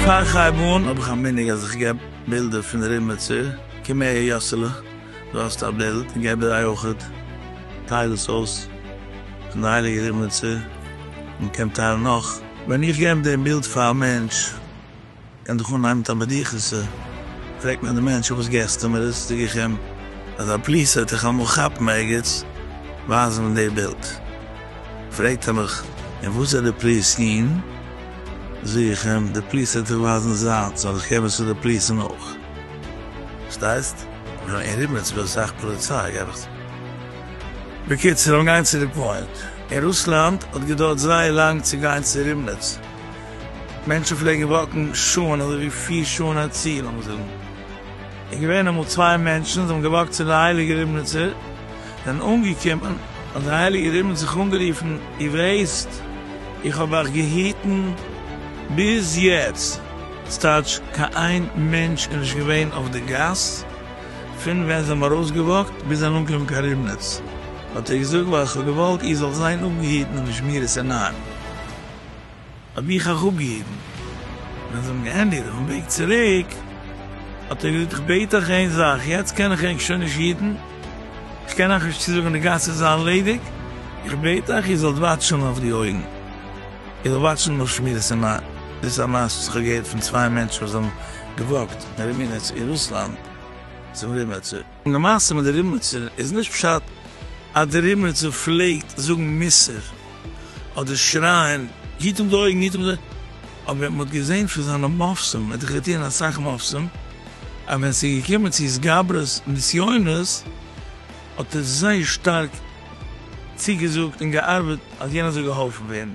פאר כ'הייב אן האב איך א מנהג אז איך געב בילדער פון די רוימער צו, קום אהער יאסעלע, דא האסטו א בילד, און געב דער אייויכעט, טייל עס אויס, פון די הייליגע רוימער צו, מען קען טיילן נאך. ווען איך געב דעם בילד פאר א מענטש. קען דאך אנהייבן מיט א בדיחות'ע, פרעגט מען דעם מענטש פארוואס געסטו אים ער איז צוגעקומען אז א פליס וועט דיך אמאל כאפן ערגעץ, ווייז אים די בילד, פרעגט ער מיך און וואס זעט די פליס אהן, זאג איך אים די פליס וועט דיך ווייזן זיינס אז איך קען וואס איז די פליס און אויך, פארשטייסט? יא אין ריבניץ איז דא אסאך פאליציי גיי דיך צו. בקיצור לאמיר גיין צו די פוינט, אין רוסלאנד האט געדויערט זייער לאנג צו גיין צו ריבניץ, מענטשן פלעגן וואקן שעה'ן אזוי ווי פיר שעה'ן א צי, לאמיר זאגן איז געווען אמאל צוויי מענטשן זיי האבן געוואקט צו די הייליגע ריבניצער זענען אנגעקומען האט די הייליגע ריבניצער זיך אנגערופן איר ווייסט איך האב אייך געהיטן ביז יעצט ס'טייטש קיין איין מענטש איז נישט געווען אויף די גאס פון ווען זיי האבן ארויסגעוואקט ביז זענען אנגעקומען קיין ריבניץ האט ער געזאגט ווייל איך האב געוואלט איר זאלט זיין אפגעהיטן און נישט מראות עיניים. האב איך אויך אפגעהיבן, ווען זיי האבן געענדיגט אויפן וועג צוריק האט ער געזאגט איך בעט אייך איין זאך, יעצט קען איך ענק שוין נישט היטן, איך קען אייך נישט צוזאגן די גאס איז ארלעדיג, איך בעט אייך איר זאלט וואטשן אויף די אויגן, איר זאלט וואטשן אויף שמירת עינים, דאס איז א מעשה וואס איך האב געהערט פון צוויי מענטשן וואס האבן געוואקט אין רימינעץ אין רוסלאנד צום רימעצער. אין די מעשה מיט די ריבניצער איז נישט פשט אז די ריבניצער פלעגט זאגן מוסר אדער שרייען היט אפ די אויגן היט אפ די אבער מען האט געזען פון זיינע מעשים ער האט דאך געטון אסאך מעשים אז ווען ס'איז געקומען צו התגברות נסיונות האט ער זייער שטארק צוגעזאגט און געארבעט אז יענער זאל געהאלפן ווערן.